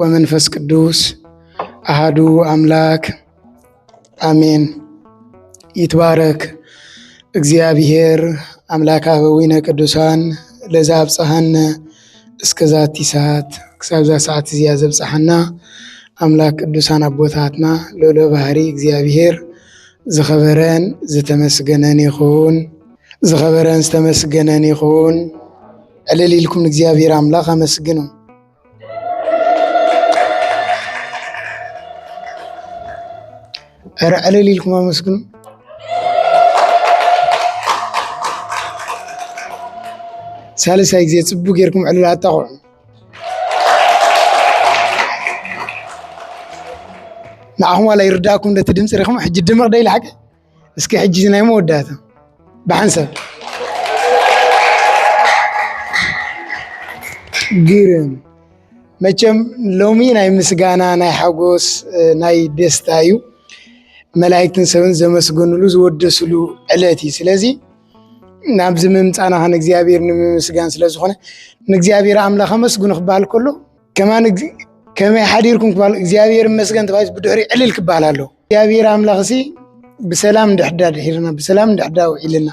ወመንፈስ ቅዱስ ኣሃዱ ኣምላክ ኣሜን። ይትባረክ እግዚኣብሔር ኣምላክ ኣበዊነ ቅዱሳን ለዛ ኣብፀሃነ እስከ ዛቲ ሰዓት ክሳብዛ ሰዓት እዚኣ ዘብፀሓና ኣምላክ ቅዱሳን ኣቦታትና ልዑለ ባህሪ እግዚኣብሔር ዝኸበረን ዝተመስገነን ይኹን። ዝኸበረን ዝተመስገነን ይኹን። ዕልል ኢልኩም ንእግዚኣብሔር ኣምላኽ ኣመስግኑ። ኧረ ዕልል ኢልኩም ኣመስግኑ። ሳልሳይ ግዜ ፅቡቅ ጌርኩም ዕልል ኣጣቕዑ። ንዓኹም ዋላ ይርዳእኩም እቲ ድምፂ ሪኹም ሕጂ ድምቕ ዶ ኢሉ ሓቂ እስኪ ሕጂ ናይ መወዳእታ ብሓንሳብ ግርም መቸም ሎሚ ናይ ምስጋና ናይ ሓጎስ ናይ ደስታ እዩ መላእክትን ሰብን ዘመስገንሉ ዝወደስሉ ዕለት እዩ ስለዚ ናብዚ ምምፃና ከን እግዚኣብሔር ንምምስጋን ስለዝኾነ ንእግዚኣብሔር ኣምላኽ ኣመስግኑ ክበሃል ከሎ ከማን ከመይ ሓዲርኩም ክበሃል እግዚኣብሔር መስገን ተባሂሉ ብድሕሪ ዕልል ክበሃል ኣለዎ እግዚኣብሔር ኣምላኽ ሲ ብሰላም እንድሕዳ ድሒርና ብሰላም እንድሕዳ ውዒልና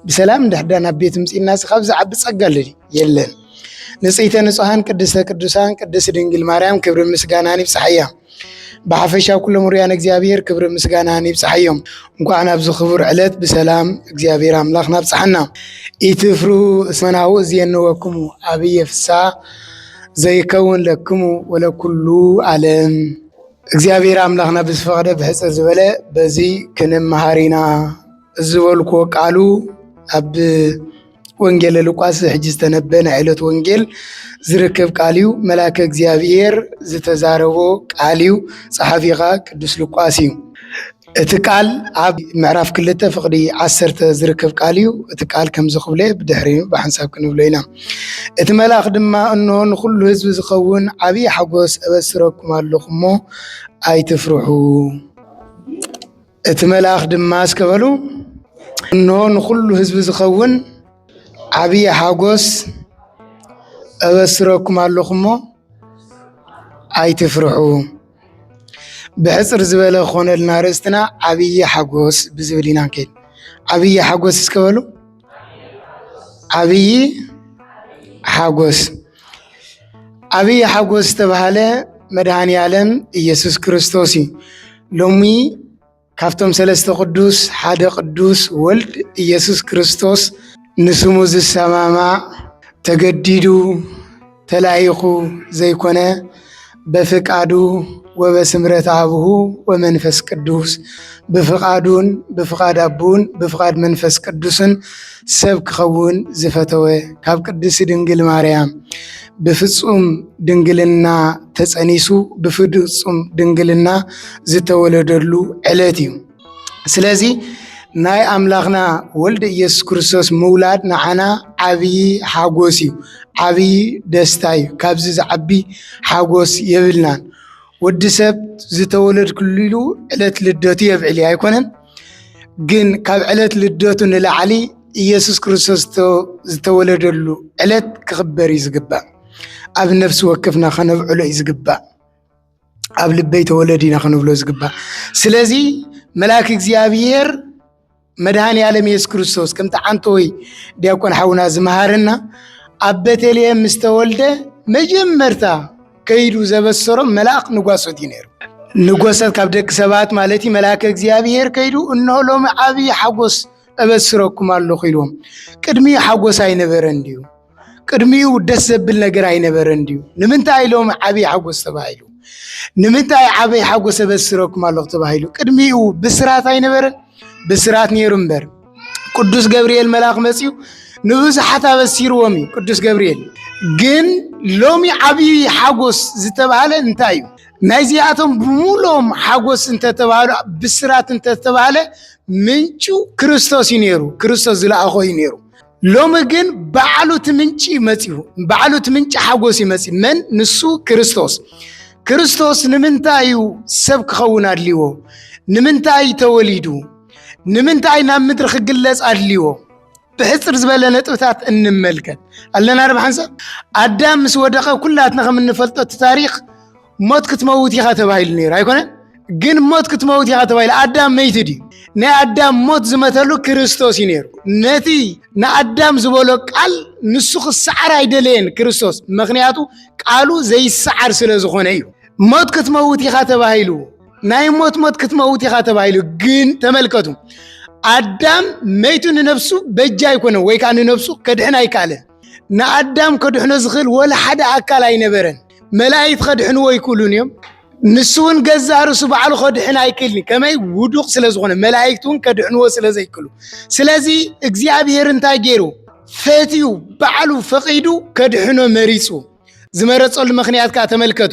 ብሰላም እንድሕዳ ናብ ቤት ምፅና ሲ ካብ ዝዓቢ ፀጋ ኣሎ የለን። ንጽሕተ ንጹሓን ቅድስተ ቅዱሳን ቅድስት ድንግል ማርያም ክብሪ ምስጋናን ይብፅሓያ። ብሓፈሻ ኩሎም ርያን እግዚኣብሔር ክብሪ ምስጋናን ይብፅሓዮም። እንኳዕ ናብዚ ክቡር ዕለት ብሰላም እግዚኣብሔር ኣምላኽ ናብፅሓና። ኢትፍሩ እስመናሁ እዝየነወክሙ ኣብየ ፍሳ ዘይከውን ለክሙ ወለኩሉ ዓለም እግዚኣብሔር ኣምላኽና ብዝፈቐደ ብሕፅር ዝበለ በዚ ክንመሃር ኢና ዝበልክዎ ቃሉ ኣብ ወንጌለ ሉቃስ ሕጂ ዝተነበ ናይ ዕለት ወንጌል ዝርከብ ቃል እዩ መላከ እግዚኣብሔር ዝተዛረቦ ቃል እዩ ፀሓፊኻ ቅዱስ ሉቃስ እዩ እቲ ቃል ኣብ ምዕራፍ ክልተ ፍቕዲ ዓሰርተ ዝርከብ ቃል እዩ። እቲ ቃል ከምዚ ክብሎ ብድሕሪኡ ብሓንሳብ ክንብሎ ኢና። እቲ መልኣኽ ድማ እንሆ ንኹሉ ህዝቢ ዝኸውን ዓብዪ ሓጎስ እበስረኩም ኣለኹ እሞ ኣይትፍርሑ። እቲ መልኣኽ ድማ እስከ በሉ እንሆ ንኹሉ ህዝቢ ዝኸውን ዓብዪ ሓጎስ እበስረኩም ኣለኹ እሞ ኣይትፍርሑ። ብሕፅር ዝበለ ክኾነልና ርእስትና ዓብዪ ሓጎስ ብዝብል ኢና ንከይድ። ዓብዪ ሓጎስ እስከ በሉ። ዓብዪ ሓጎስ ዓብዪ ሓጎስ ዝተባህለ መድሃኔ ዓለም ኢየሱስ ክርስቶስ እዩ። ሎሚ ካብቶም ሰለስተ ቅዱስ ሓደ ቅዱስ ወልድ ኢየሱስ ክርስቶስ ንስሙ ዝሰማማዕ ተገዲዱ ተላኢኹ ዘይኮነ በፍቃዱ ወበስምረት ኣብሁ ወመንፈስ ቅዱስ ብፍቃዱን ብፍቃድ ኣቦኡን ብፍቃድ መንፈስ ቅዱስን ሰብ ክኸውን ዝፈተወ ካብ ቅድስቲ ድንግል ማርያም ብፍፁም ድንግልና ተፀኒሱ ብፍፁም ድንግልና ዝተወለደሉ ዕለት እዩ። ስለዚ ናይ ኣምላኽና ወልድ ኢየሱስ ክርስቶስ ምውላድ ንዓና ዓብዪ ሓጎስ እዩ፣ ዓብዪ ደስታ እዩ። ካብዚ ዝዓቢ ሓጎስ የብልናን። ወዲ ሰብ ዝተወለድክሉ ዕለት ልደቱ የብዕል እዩ ኣይኮነን? ግን ካብ ዕለት ልደቱ ንላዕሊ ኢየሱስ ክርስቶስ ዝተወለደሉ ዕለት ክኽበር እዩ ዝግባእ። ኣብ ነፍሲ ወከፍና ከነብዕሎ እዩ ዝግባእ። ኣብ ልበይ ተወለድ ኢና ክንብሎ ዝግባእ። ስለዚ መልኣክ እግዚኣብሔር መድሃን ያለም ኢየሱስ ክርስቶስ ከምቲ ዓንቶ ወይ ዲያቆን ሓውና ዝመሃረና ኣብ ቤተልሔም ምስተወልደ መጀመርታ ከይዱ ዘበሰሮም መልኣኽ ንጓሶት እዩ ነይሩ። ንጎሰት ካብ ደቂ ሰባት ማለት እዩ መልኣከ እግዚኣብሔር ከይዱ እንሆ ሎሚ ዓብዪ ሓጎስ እበስረኩም ኣለኹ ኢልዎም። ቅድሚኡ ሓጎስ ኣይነበረን ድዩ? ቅድሚኡ ደስ ዘብል ነገር ኣይነበረን ድዩ? ንምንታይ ሎሚ ዓብዪ ሓጎስ ተባሂሉ? ንምንታይ ዓብዪ ሓጎስ እበስረኩም ኣለኹ ተባሂሉ? ቅድሚኡ ብስራት ኣይነበረን? ብስራት ነይሩ እምበር ቅዱስ ገብርኤል መልኣኽ መፅኡ ንብዙሓት ኣበሲርዎም እዩ ቅዱስ ገብርኤል። ግን ሎሚ ዓብዪ ሓጎስ ዝተባህለ እንታይ እዩ? ናይዚኣቶም ብምሎም ሓጎስ እንተተባህሉ ብስራት እንተተባህለ ምንጩ ክርስቶስ እዩ ነይሩ፣ ክርስቶስ ዝለኣኾ እዩ ነይሩ። ሎሚ ግን ባዕሉ እቲ ምንጪ መፅኡ፣ ባዕሉ እቲ ምንጪ ሓጎስ እዩ መፅኡ። መን? ንሱ ክርስቶስ። ክርስቶስ ንምንታይ እዩ ሰብ ክኸውን ኣድልዎ? ንምንታይ ተወሊዱ? ንምንታይ ናብ ምድሪ ክግለጽ ኣድልዎ? ብሕጽር ዝበለ ነጥብታት እንመልከት ኣለና ዶ ሓንሳብ ኣዳም ምስ ወደቐ ኩላትና ከም እንፈልጦ እቲ ታሪኽ ሞት ክትመውት ኢኻ ተባሂሉ ነይሩ ኣይኮነን ግን ሞት ክትመውት ኢኻ ተባሂሉ ኣዳም መይቲ ድዩ ናይ ኣዳም ሞት ዝመተሉ ክርስቶስ እዩ ነይሩ ነቲ ንኣዳም ዝበሎ ቃል ንሱ ክሰዓር ኣይደለየን ክርስቶስ ምክንያቱ ቃሉ ዘይሰዓር ስለ ዝኾነ እዩ ሞት ክትመውት ኢኻ ተባሂሉ ናይ ሞት ሞት ክትመውት ኢኻ ተባሂሉ ግን ተመልከቱ ኣዳም መይቱ ንነብሱ በጃ ኣይኮነ ወይ ከዓ ንነብሱ ከድሕን ኣይከኣለን ንኣዳም ከድሕኖ ዝኽእል ወላ ሓደ ኣካል ኣይነበረን መላእክት ከድሕንዎ ኣይክእሉን እዮም ንሱ እውን ገዛ ርእሱ ባዕሉ ከድሕን ኣይክእልን ከመይ ውዱቅ ስለ ዝኾነ መላእክት እውን ከድሕንዎ ስለ ዘይክእሉ ስለዚ እግዚኣብሔር እንታይ ገይሩ ፈትዩ ባዕሉ ፈቒዱ ከድሕኖ መሪፁ ዝመረጸሉ ምክንያት ከዓ ተመልከቱ።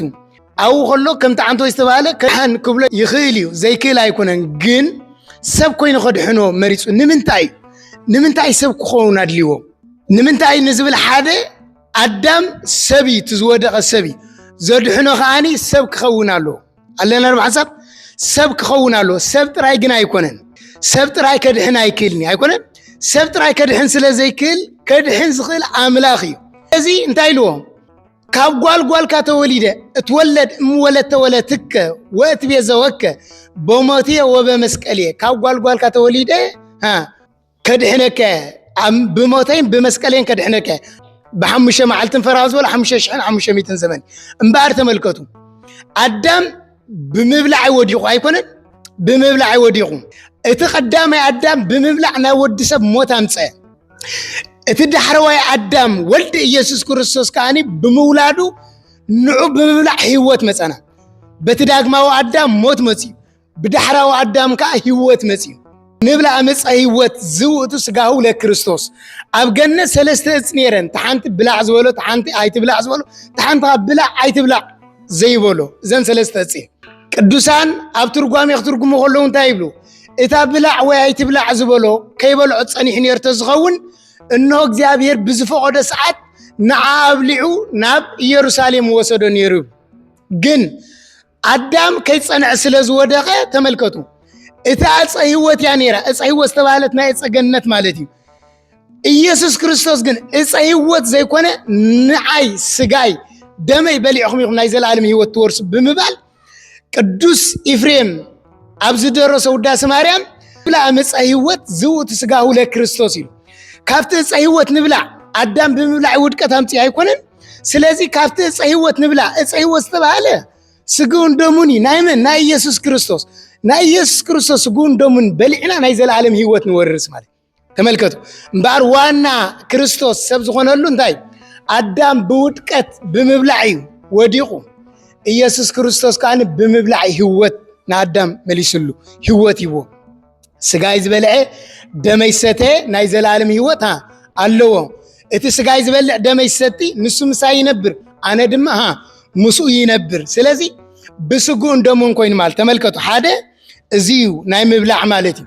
ኣብኡ ከሎ ከምቲ ዓንተወይ ዝተባህለ ከድሓን ክብሎ ይኽእል እዩ፣ ዘይክእል ኣይኮነን። ግን ሰብ ኮይኑ ከድሕኖ መሪፁ። ንምንታይ ንምንታይ ሰብ ክኸውን ኣድልዎ? ንምንታይ ንዝብል ሓደ ኣዳም ሰብ እዩ፣ እቲ ዝወደቐ ሰብ እዩ። ዘድሕኖ ከዓኒ ሰብ ክኸውን ኣለዎ። ኣለና ዶ ሓሳብ ሰብ ክኸውን ኣለዎ ሰብ ጥራይ ግን ኣይኮነን ሰብ ጥራይ ከድሕን ኣይክእልን እዩ ኣይኮነን ሰብ ጥራይ ከድሕን ስለ ዘይክእል ከድሕን ዝኽእል ኣምላኽ እዩ እዚ እንታይ ኢልዎ ካብ ጓል ጓልካ ተወሊደ እትወለድ እምወለድ ተወለትከ ወእት ቤዘወከ በሞቴ ወበመስቀልየ ካብ ጓል ጓልካ ተወሊደ አ፣ ከድሕነካ ብሞተይን ብመስቀለይን ከድሕነካ ብሓሙሽተ መዓልትን ፈራሁ ዝበሎ ሓሙሽተ ሽሕን ሓሙሽተ ሚትን ዘመን እምበኣር ተመልከቱ ኣዳም ብምብላዕ ወዲቑ ኣይኮነን ብምብላዕ ወዲቑ እቲ ቀዳማይ ኣዳም ብምብላዕ ናይ ወዲ ሰብ ሞት ኣምፀ እቲ ዳሕረዋይ ኣዳም ወልድ ኢየሱስ ክርስቶስ ከዓኒ ብምውላዱ ንዑ ብምብላዕ ህይወት መፀና በቲ ዳግማዊ ኣዳም ሞት መፅዩ ብዳሕራዊ ኣዳም ከዓ ህይወት መፅዩ ንብላ ዕፀ ህይወት ዝውእቱ ስጋሁ ለክርስቶስ ኣብ ገነት ሰለስተ እፅ ነይረን ተሓንቲ ብላዕ ዝበሎ ተሓንቲ ኣይትብላዕ ዝበሎ ተሓንቲ ካብ ብላዕ ኣይትብላዕ ዘይበሎ እዘን ሰለስተ እፅ ቅዱሳን ኣብ ትርጓሜ ክትርጉሙ ከለዉ እንታይ ይብሉ እታ ብላዕ ወይ ኣይትብላዕ ዝበሎ ከይበልዖ ፀኒሑ ነርቶ ዝኸውን እነሆ እግዚኣብሔር ብዝፈቐዶ ሰዓት ንዓ ኣብሊዑ ናብ ኢየሩሳሌም ወሰዶ ነይሩ ግን ኣዳም ከይጸንዐ ስለ ዝወደቐ ተመልከቱ እቲ ዕፀ ህይወት እያ ነይራ። ዕፀ ህይወት ዝተባህለት ናይ ዕፀ ገነት ማለት እዩ። ኢየሱስ ክርስቶስ ግን ዕፀ ህይወት ዘይኮነ ንዓይ ስጋይ ደመይ በሊዕኹም ኢኹም ናይ ዘለኣለም ህይወት ትወርሱ ብምባል ቅዱስ ኢፍሬም ኣብ ዝደረሰ ውዳሴ ማርያም ብላዕ ዕፀ ህይወት ዝውእቱ ስጋሁ ለክርስቶስ እዩ። ካብቲ ዕፀ ህይወት ንብላዕ ኣዳም ብምብላዕ ውድቀት ኣምፅእ ኣይኮነን ስለዚ ካብቲ እፀ ህይወት ንብላ እፀ ህይወት ዝተባሃለ ስግውን ደሙን እዩ ናይ መን ናይ ኢየሱስ ክርስቶስ ናይ ኢየሱስ ክርስቶስ ስግውን ደሙን በሊዕና ናይ ዘለዓለም ህይወት ንወርስ ማለት ተመልከቱ እምበኣር ዋና ክርስቶስ ሰብ ዝኾነሉ እንታይ ኣዳም ብውድቀት ብምብላዕ እዩ ወዲቑ ኢየሱስ ክርስቶስ ከዓ ብምብላዕ ህይወት ንኣዳም መሊስሉ ህይወት ይዎ ስጋይ ዝበልዐ ደመይ ሰተ ናይ ዘለዓለም ህይወት ኣለዎ። እቲ ስጋይ ዝበልዕ ደመይ ሰቲ ንሱ ምሳይ ይነብር፣ ኣነ ድማ ሃ ምስኡ ይነብር። ስለዚ ብስጉእን ደሙን ኮይኑ ማለት ተመልከቱ፣ ሓደ እዚ እዩ ናይ ምብላዕ ማለት እዩ።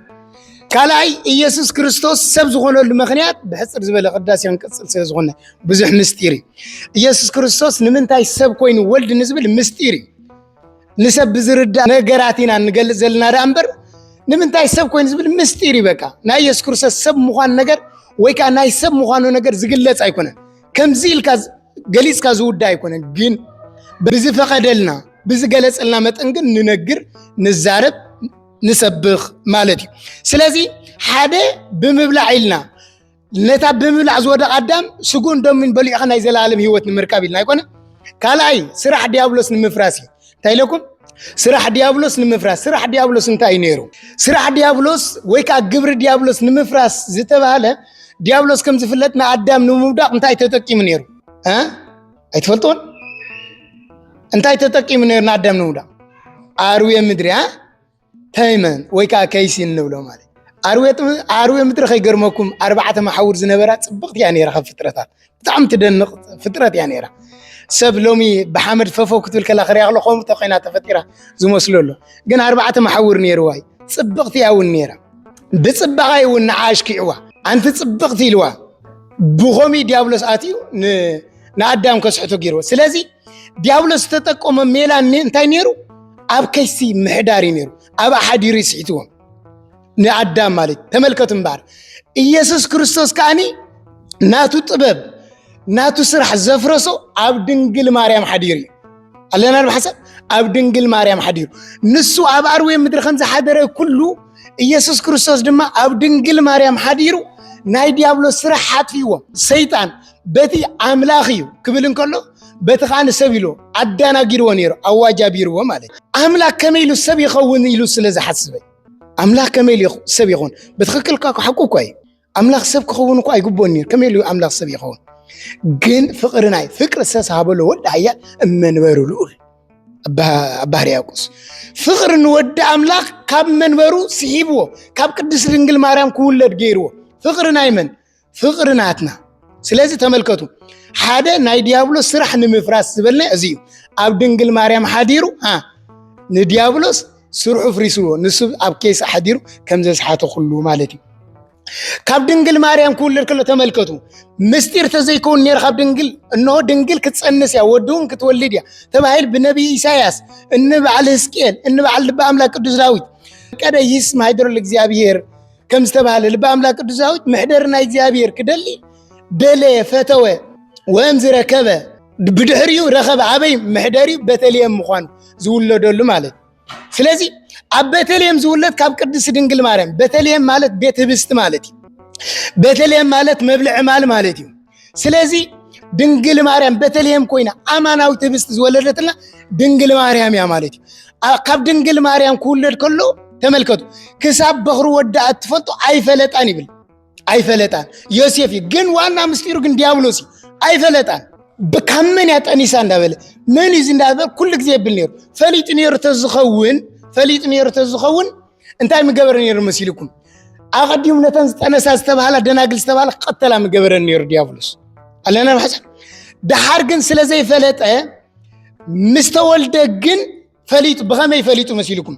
ካልኣይ ኢየሱስ ክርስቶስ ሰብ ዝኾነሉ ምክንያት ብሕፅር ዝበለ ቅዳሴ ክንቅፅል ስለ ዝኾነ ብዙሕ ምስጢር እዩ። ኢየሱስ ክርስቶስ ንምንታይ ሰብ ኮይኑ ወልድ ንዝብል ምስጢር እዩ። ንሰብ ብዝርዳእ ነገራት ኢና እንገልፅ ዘለና ደኣ እምበር ንምንታይ ሰብ ኮይኑ ዝብል ምስጢር እዩ። በቃ ናይ የሱስ ክርስቶስ ሰብ ምዃኑ ነገር ወይ ከዓ ናይ ሰብ ምዃኑ ነገር ዝግለፅ ኣይኮነን። ከምዚ ኢልካ ገሊፅካ ዝውዳ ኣይኮነን። ግን ብዝፈቐደልና ብዝገለፀልና መጠን ግን ንነግር፣ ንዛረብ፣ ንሰብኽ ማለት እዩ። ስለዚ ሓደ ብምብላዕ ኢልና ነታ ብምብላዕ ዝወደቐ ኣዳም ስጉን ደሙን በሊዑ ኸ ናይ ዘለኣለም ህይወት ንምርካብ ኢልና ኣይኮነ ካልኣይ ስራሕ ዲያብሎስ ንምፍራስ እዩ እንታይ ኢለኩም ስራሕ ዲያብሎስ ንምፍራስ ስራሕ ዲያብሎስ እንታይ እዩ ነይሩ ስራሕ ዲያብሎስ ወይ ከዓ ግብሪ ዲያብሎስ ንምፍራስ ዝተባሃለ ዲያብሎስ ከም ዝፍለጥ ንኣዳም ንምውዳቕ እንታይ ተጠቂሙ ነይሩ ኣይትፈልጥዎን እንታይ ተጠቂሙ ነይሩ ንኣዳም ንምውዳቕ ኣርዌ ምድሪ ተይመን ወይ ከዓ ከይሲ እንብሎ ማለት ኣርዌ ምድሪ ከይገርመኩም ኣርባዕተ መሓውር ዝነበራ ፅብቕቲ እያ ነይራ ካብ ፍጥረታት ብጣዕሚ ትደንቕ ፍጥረት እያ ነይራ ሰብ ሎሚ ብሓመድ ፈፎ ክትብል ከላ ክሪያ ከሎ ከምኡ ተኮይና ተፈጢራ ዝመስሎ ኣሎ ግን ኣርባዕተ መሓውር ነይርዋ እዩ ፅብቕቲ እያ እውን ነይራ ብፅባቐ እውን ንዓ ኣሽኪዕዋ ኣንቲ ፅብቕቲ ኢልዋ ብኸምኡ ዲያብሎስ ኣትዩ ንኣዳም ከስሕቶ ገይርዎ ስለዚ ዲያብሎስ ዝተጠቀሞ ሜላ እንታይ ነይሩ? ኣብ ከይሲ ምሕዳር እዩ ነይሩ። ኣብ ኣሓዲሩ ይስሒትዎም ንኣዳም ማለት ተመልከቱ እምበኣር ኢየሱስ ክርስቶስ ከዓኒ ናቱ ጥበብ ናቱ ስራሕ ዘፍረሶ ኣብ ድንግል ማርያም ሓዲሩ እዩ ኣለና ብሓሳብ ኣብ ድንግል ማርያም ሓዲሩ ንሱ ኣብ ኣርዌ ምድሪ ከም ዝሓደረ ኩሉ ኢየሱስ ክርስቶስ ድማ ኣብ ድንግል ማርያም ሓዲሩ ናይ ዲያብሎስ ስራሕ ሓጥፍዎም ሰይጣን በቲ ኣምላኽ እዩ ክብል እንከሎ በቲ ከዓ ንሰብ ኢሉ ኣዳናጊርዎ ነይሩ ኣዋጅ ኣቢርዎ ማለት እዩ ኣምላክ ከመይ ኢሉ ሰብ ይኸውን ኢሉ ስለ ዝሓስበ ኣምላክ ከመይ ኢሉ ሰብ ይኸውን ብትክክል ካ ሓቁ እኳ እዩ ኣምላክ ሰብ ክኸውን እኳ ኣይግቦን ነይሩ ከመይ ኢሉ ኣምላክ ሰብ ይኸውን ግን ፍቅሪ ናይ ፍቅሪ ዝተሰሃበሎ ወዲ ሃያ እመንበሩ ልኡል ኣባህር ያቁስ ፍቅሪ ንወዲ ኣምላክ ካብ መንበሩ ስሒብዎ ካብ ቅድስት ድንግል ማርያም ክውለድ ገይርዎ ፍቅሪ ናይ መን ፍቕሪ ናትና ስለዚ ተመልከቱ ሓደ ናይ ዲያብሎስ ስራሕ ንምፍራስ ዝበልና እዚ እዩ ኣብ ድንግል ማርያም ሓዲሩ ንዲያብሎስ ስርሑ ፍሪስዎ ንሱ ኣብ ኬስ ሓዲሩ ከም ዘስሓተ ኩሉ ማለት እዩ ካብ ድንግል ማርያም ክውለድ ከሎ ተመልከቱ ምስጢር ተዘይከውን ነር ካብ ድንግል እነሆ ድንግል ክትፀንስ እያ ወድውን ክትወልድ እያ ተባሂል ብነቢይ ኢሳያስ እንበዓል ህዝቅኤል እንበዓል ልቢ ኣምላክ ቅዱስ ዳዊት ቀደ ይስማ ሃይደሮ እግዚኣብሄር ከም ዝተባህለ ልቢ ኣምላክ ቅዱስ ዳዊት መሕደሪ ናይ እግዚኣብሔር ክደሊ ደለየ ፈተወ ወእምዝ ረከበ ብድሕሪኡ ረኸበ ኣበይ መሕደሪኡ ቤተልሔም ምዃኑ ዝውለደሉ ማለት እዩ ስለዚ ኣብ ቤተልሔም ዝውለድ ካብ ቅድስት ድንግል ማርያም ቤተልሔም ማለት ቤት ህብስቲ ማለት እዩ ቤተልሔም ማለት መብልዒ ማል ማለት እዩ ስለዚ ድንግል ማርያም ቤተልሔም ኮይና ኣማናዊት ህብስት ዝወለደትና ድንግል ማርያም እያ ማለት እዩ። ካብ ድንግል ማርያም ክውለድ ከሎ ተመልከቱ፣ ክሳብ በኽሪ ወዳኣ እትፈልጡ ኣይፈለጣን ይብል። ኣይፈለጣን ዮሴፍ እዩ፣ ግን ዋና ምስጢሩ ግን ዲያብሎስ እዩ። ኣይፈለጣን ካብ መን እያ ጠኒሳ እንዳበለ መን እዩ እንዳበለ ኩሉ ግዜ የብል ነይሩ። ፈሊጡ ነይሩ ተዝኸውን ፈሊጡ ነይሩ ተዝኸውን እንታይ ምገበረ ነይሩ መሲልኩም? ኣቐዲሙ ነተን ዝጠነሳ ዝተባሃላ ደናግል ዝተባሃላ ክቐተላ ምገበረ ነይሩ ዲያብሎስ ኣለና ብሓሳ ደሓር ግን ስለ ዘይፈለጠ ምስ ተወልደ ግን ፈሊጡ ብኸመይ ፈሊጡ መሲልኩም?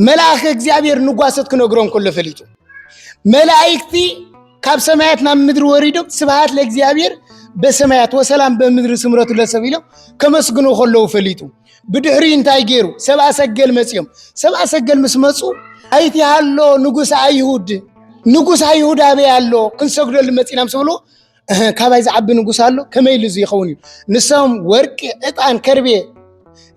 መልኣኸ እግዚኣብሔር ንጓሰት ክነግሮ እንከሎ ፈሊጡ መላእክቲ ካብ ሰማያት ናብ ምድሪ ወሪዶም ስብሃት ለእግዚኣብሔር በሰማያት ወሰላም በምድሪ ስምረቱ ለሰብ ኢሎም ከመስግኑ ከለዉ ፈሊጡ ብድሕሪ እንታይ ገይሩ? ሰብኣ ሰገል መጺኦም። ሰብኣ ሰገል ምስ መጹ ኣይቲ ሃሎ ንጉስ ኣይሁድ ንጉስ ኣይሁድ ኣበይ ኣሎ ክንሰግደሉ መጺና ምስ ብሉ ካባይ ዝዓቢ ንጉስ ኣሎ ከመይ ኢሉ ይኸውን እዩ ንሶም ወርቂ ዕጣን ከርቤ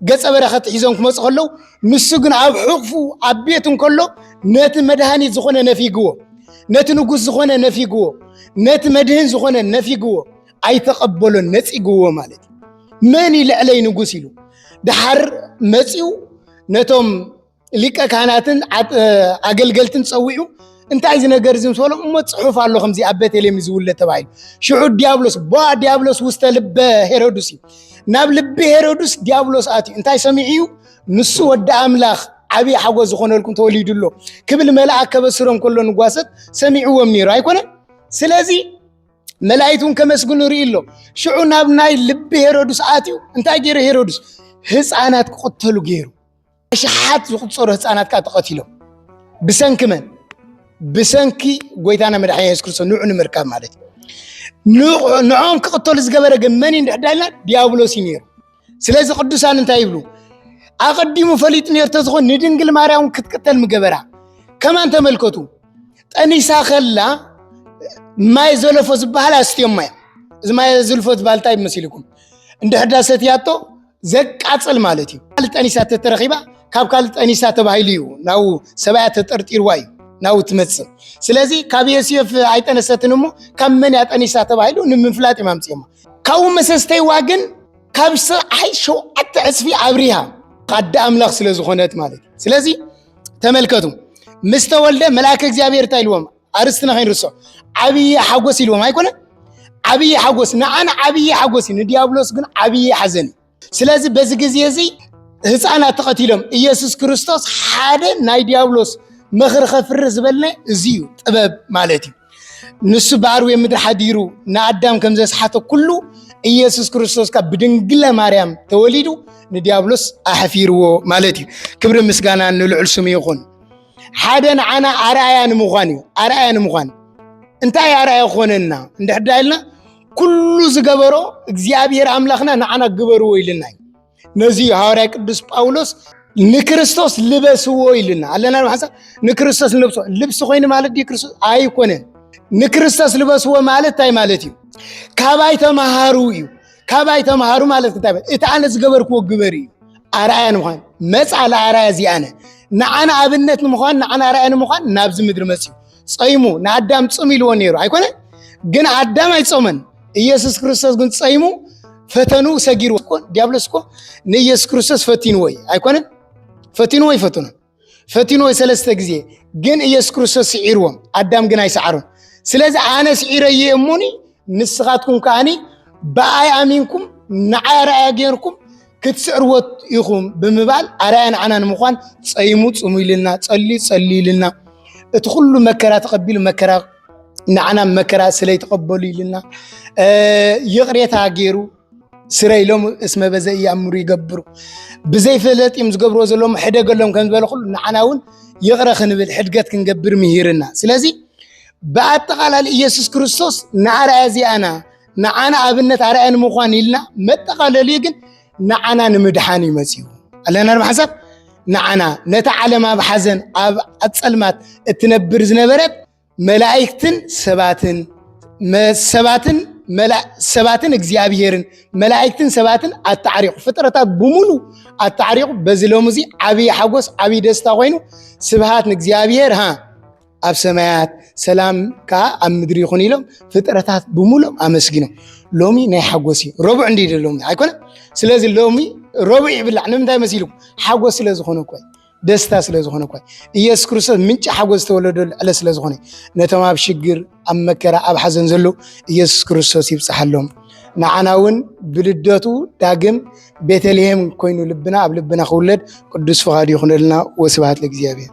ገጸ በረኸት ሒዞም ክመፁ ከለው ንሱ ግን ኣብ ሕቕፉ ኣብ ቤት እንከሎ ነቲ መድሃኒት ዝኾነ ነፊግዎ ነቲ ንጉስ ዝኾነ ነፊግዎ ነቲ መድህን ዝኾነ ነፊግዎ ኣይተቐበሎን ነፂግዎ ማለት እዩ መን ይልዕለይ ንጉስ ኢሉ ድሓር መፂኡ ነቶም ሊቀ ካህናትን ኣገልገልትን ፀዊዑ እንታይ እዚ ነገር እዚ ምስ በሎም እሞ ፅሑፍ ኣሎ ከምዚ ኣብ ቤተልሔም እዩ ዝውለድ ተባሂሉ ሽዑ ዲያብሎስ ቦ ዲያብሎስ ውስተ ልበ ሄሮድስ እዩ ናብ ልቢ ሄሮድስ ዲያብሎስ ኣትዩ እንታይ ሰሚዑ እዩ ንሱ ወዲ ኣምላኽ ዓብዪ ሓጎስ ዝኾነልኩም ተወሊዱ ኣሎ ክብል መልኣክ ከበስሮም ከሎ ንጓሰት ሰሚዕዎም ነይሩ ኣይኮነን ስለዚ መላእክት እውን ከመስግኑ ርኢ ኣሎ ሽዑ ናብ ናይ ልቢ ሄሮድስ ኣትዩ እንታይ ገይሩ ሄሮድስ ህፃናት ክቕተሉ ገይሩ ኣሽሓት ዝቁፀሩ ህፃናት ከዓ ተቐቲሎም ብሰንኪ መን ብሰንኪ ጎይታና መድሓኒ የሱስ ክርስቶስ ንዑ ንምርካብ ማለት እዩ ንዖም ክቕተሉ ዝገበረ ግን መን እዩ ንድሕዳልና ዲያብሎስ እዩ ነይሩ ስለዚ ቅዱሳን እንታይ ይብሉ? ኣቐዲሙ ፈሊጡ ነይሩ ተዝኾን ንድንግል ማርያም ክትቅተል ምገበራ ከማን ተመልከቱ ጠኒሳ ከላ ማይ ዘለፎ ዝበሃል ኣስትዮም ማያ እዚ ማይ ዝልፎ ዝበሃል እንታይ መሲልኩም እንደ ሕዳሰት ያቶ ዘቃፅል ማለት እዩ ካልእ ጠኒሳ ተተረኺባ ካብ ካልእ ጠኒሳ ተባሂሉ እዩ ናው ሰብያ ተጠርጢርዋ እዩ ናው ትመፅእ ስለዚ ካብ የስዮፍ ኣይጠነሰትን እሞ ካብ መን ያጠኒሳ ተባሂሉ ንምፍላጥ እዮም ኣምፅዮማ ካብኡ መሰስተይዋ ግን ካብ ፀሓይ ሸውዓተ ዕፅፊ ኣብሪሃ ኣደ ኣምላኽ ስለ ዝኾነት ማለት እዩ ስለዚ ተመልከቱ ምስ ተወልደ መልኣከ እግዚኣብሔር እንታይ ኢልዎም ኣርስትና ከይንርሶ ዓብዪ ሓጎስ ኢልዎም ኣይኮነ ዓብዪ ሓጎስ ንዓን ዓብዪ ሓጎስ እዩ ንዲያብሎስ ግን ዓብዪ ሓዘን እዩ ስለዚ በዚ ግዜ እዚ ህፃናት ተቐቲሎም ኢየሱስ ክርስቶስ ሓደ ናይ ዲያብሎስ ምኽሪ ከፍሪ ዝበልነ እዚ እዩ ጥበብ ማለት እዩ ንሱ ብኣርዌ ምድሪ ሓዲሩ ንኣዳም ከም ዘስሓተ ኩሉ ኢየሱስ ክርስቶስ ካብ ብድንግለ ማርያም ተወሊዱ ንዲያብሎስ ኣሕፊርዎ ማለት እዩ ክብሪ ምስጋና ንልዑል ስሙ ይኹን ሓደ ንዓና ኣርኣያ ንምዃን እዩ ኣርኣያ ንምዃን እንታይ ኣርኣያ ክኾነና እንድሕዳ ኢልና ኩሉ ዝገበሮ እግዚኣብሔር ኣምላኽና ንዓና ግበርዎ ኢልና እዩ ነዚ ሃዋርያ ቅዱስ ጳውሎስ ንክርስቶስ ልበስዎ ኢልና ኣለና ሓሳብ ንክርስቶስ ንለብሶ ልብሲ ኮይኑ ማለት ድዩ ክርስቶስ ኣይኮነን ንክርስቶስ ልበስዎ ማለት እንታይ ማለት እዩ ካባይ ተምሃሩ እዩ ካባይ ተምሃሩ ማለት እንታይ እቲ ኣነ ዝገበርክዎ ግበር እዩ ኣርኣያ ንምዃን መፃ ለኣርኣያ እዚኣነ ንዓና ኣብነት ንምዃን ንዓና ኣርኣያ ንምዃን ናብዚ ምድሪ መፅዩ ጸይሙ ንኣዳም ጽም ኢልዎ ነይሩ ኣይኮነ ግን ኣዳም ኣይጾመን ኢየሱስ ክርስቶስ ግን ጸይሙ ፈተኑ ሰጊሩ እኮ ዲያብሎስ እኮ ንኢየሱስ ክርስቶስ ፈቲንዎ እዩ ኣይኮነን ፈቲንዎ ይፈትኑ ፈቲንዎ ሰለስተ ግዜ ግን ኢየሱስ ክርስቶስ ስዒርዎም ኣዳም ግን ኣይሰዓሩን ስለዚ ኣነ ስዒረየ እሙኒ ንስኻትኩም ከዓኒ ብኣይ ኣሚንኩም ንዓይ ኣርኣያ ጌርኩም ክትስዕርዎ ኢኹም ብምባል ኣርኣያ ንዓና ንምዃን ጸይሙ ጽሙይልና ጸልዩ ጸልዩልና እቲ ኩሉ መከራ ተቐቢሉ መከራ ንዓና መከራ ስለ ይተቐበሉ ኢልና ይቕሬታ ገይሩ ስረ ኢሎም እስመ በዘ እያምሩ ይገብሩ ብዘይ ፈለጥ እዮም ዝገብርዎ ዘለዎም ሕደገሎም ከም ዝበለ ኩሉ ንዓና እውን ይቕረ ክንብል ሕድገት ክንገብር ምሂርና ስለዚ ብኣጠቓላሊ ኢየሱስ ክርስቶስ ንኣርኣያ እዚኣና ንዓና ኣብነት ኣርኣያ ንምዃን ኢልና መጠቓለልዩ ግን ንዓና ንምድሓን እዩ መፅኡ ኣለና ንሓሳብ ንዓና ነታ ዓለም ኣብ ሓዘን ኣብ ኣፀልማት እትነብር ዝነበረት መላእክትን ሰባትን ሰባትን ሰባትን እግዚኣብሄርን መላእክትን ሰባትን ኣታዕሪቑ ፍጥረታት ብምሉ ኣታዕሪቑ በዚ ሎሚ እዚ ዓብዪ ሓጎስ ዓብዪ ደስታ ኮይኑ ስብሃት ንእግዚኣብሄር ሃ ኣብ ሰማያት ሰላም ከዓ ኣብ ምድሪ ይኹን ኢሎም ፍጥረታት ብምሉም ኣመስጊኖም ሎሚ ናይ ሓጎስ እዩ ረቡዕ እንዲ ሎሚ ኣይኮነ ስለዚ ሎሚ ረቡዕ ይብላዕ ንምንታይ መሲልኩም ሓጎስ ስለ ዝኾነ እኮ ደስታ ስለ ዝኾነ እኮ ኢየሱስ ክርስቶስ ምንጪ ሓጎስ ዝተወለደሉ ዕለት ስለ ዝኾነ ነቶም ኣብ ሽግር ኣብ መከራ ኣብ ሓዘን ዘሎ ኢየሱስ ክርስቶስ ይብፅሓሎም ንዓና እውን ብልደቱ ዳግም ቤተልሔም ኮይኑ ልብና ኣብ ልብና ክውለድ ቅዱስ ፍቓዱ ይኹነልና ወስብሃት ለእግዚኣብሔር